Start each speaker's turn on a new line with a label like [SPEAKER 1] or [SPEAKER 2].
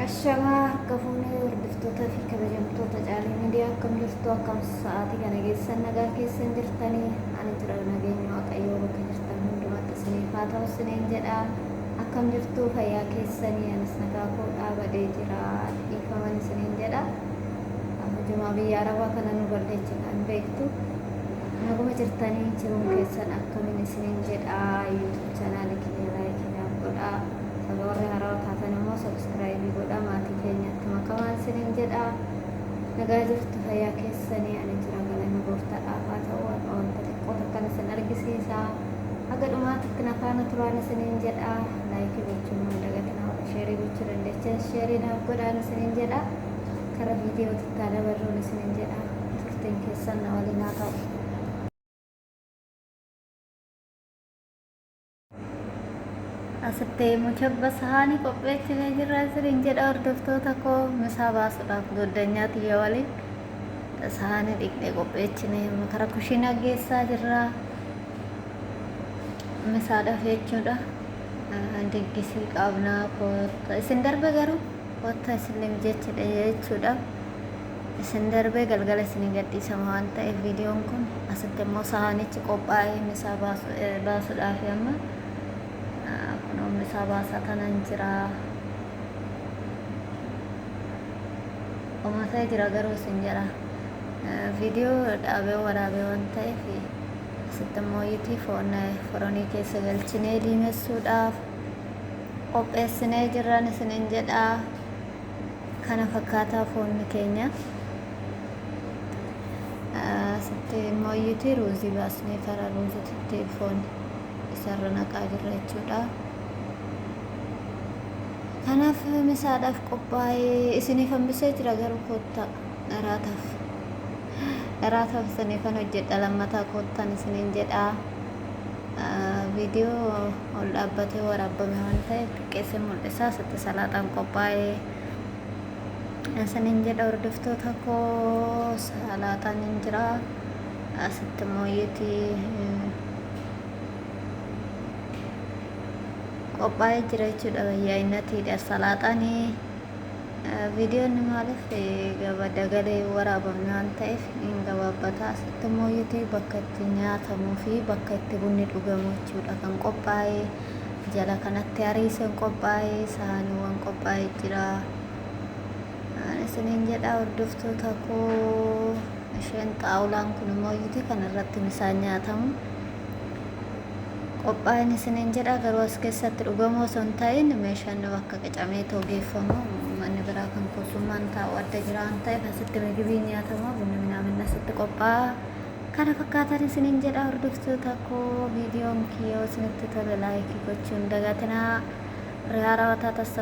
[SPEAKER 1] Ashamaa harka fuunee hordoftoota fi kabajamtoota caalii miidiyaa akkam jirtu akkam sa'aatii kana geessan nagaa keessan jirtanii ani jira nageenya waaqayyoo bakka jirtan hundumatti isiniif haa ta'u isiniin jedha akkam jirtu fayyaa keessanii anis nagaa koo dhaabadee jira dhiifaman isiniin jedha hojumaa biyya arabaa kana nu balleecha kan beektu naguma jirtanii jiruun keessan akkamiin isiniin jedha yuutuub chaanaalii kiyya laayikii naaf godhaa Baga warri harawa taatan immoo subscribe godha maatii keenyatti makamaan sinin jedha nagaa jirtu fayyaa keessanii ani jira galanni gooftaadhaaf haa ta'u har'a wanta xiqqoo takkan isin argisiisa haga dhumaatitti na faana turaan isinin jedha laayikii gochuun hin dagatinaa warri sheerii gochuu dandeechan sheerii naaf godhaan isinin jedha kara viidiyoo tittaa dabarruun isinin jedha turtiin keessan na waliin haa ta'u. Asitti muchabba sahaanii qopheessinee jirra isiniin jedha hordoftoota koo misaa baasuudhaaf goddanyaa tiyya waliin sahaanii dhiqnee qopheessinee kara kushiinaa geessaa jirra misaadhaaf jechuudha diggisii qabnaa kootta isin darbe garuu kootta isiniif jechidha jechuudha. isin darbee galgala isinii gadhiisama waan ta'eef viidiyoon kun asitti immoo sahaanichi qophaa'ee misaa baasuudhaaf amma kunoo misaa baasaa tanan jira omatee jira garuu isin jedha viidiyoo dhaabee waraabee waan ta'eef asitti immoo yitii foon foronii keessa galchinee diimessuudhaaf qopheessinee jirran isinin jedhaa kana fakkaataa foonni keenya asitti immoo iyyuti ruuzii baasnee karaa ruuzititti foon isarra naqaa jirra jechuudha kanaaf misaadhaaf qophaa'ee isiniif hambisee jira garuu koottaa dharaataaf dharaataaf isiniifan hojjedha lammataa koottan isiniin jedha viidiyoo ol dhaabbatee waraabbame waan ta'eef xiqqeessee mul'isa asitti salaaxaan qophaa'e isinin jedha hordoftoota koo salaaxaan hin jira asitti immoo yeeti qophaa'ee jira jechuudha wayyaa innatiidha salaaxaanii Viidiyoonni maaliif gaba dagalee waraabamne waan ta'eef in gabaabbata. Asitti immoo yuutii bakka itti nyaatamuu fi bakka itti bunni dhugamu jechuudha kan qophaa'e. Jala kanatti hariiseen qophaa'e, saaniiwwan qophaa'e jira. Ani isiniin jedha hordoftoota koo isheen xaawulaan kun immoo yuutii kan irratti misaan nyaatamu. qophaa'in isiniin jedha garuu as keessatti dhugamuu osoo hin ta'in meeshaan bakka qicamee too geeffamu manni biraa kan kuusummaan taa'u adda jira waan ta'eef asitti migibiin nyaatama bunni minaamin asitti qophaa'a kana fakkaatan isiniin jedha hordoftoota koo viidiyoon kiyyoo isinitti tole laayikii gochuun dagatinaa riyaa rawataa tassa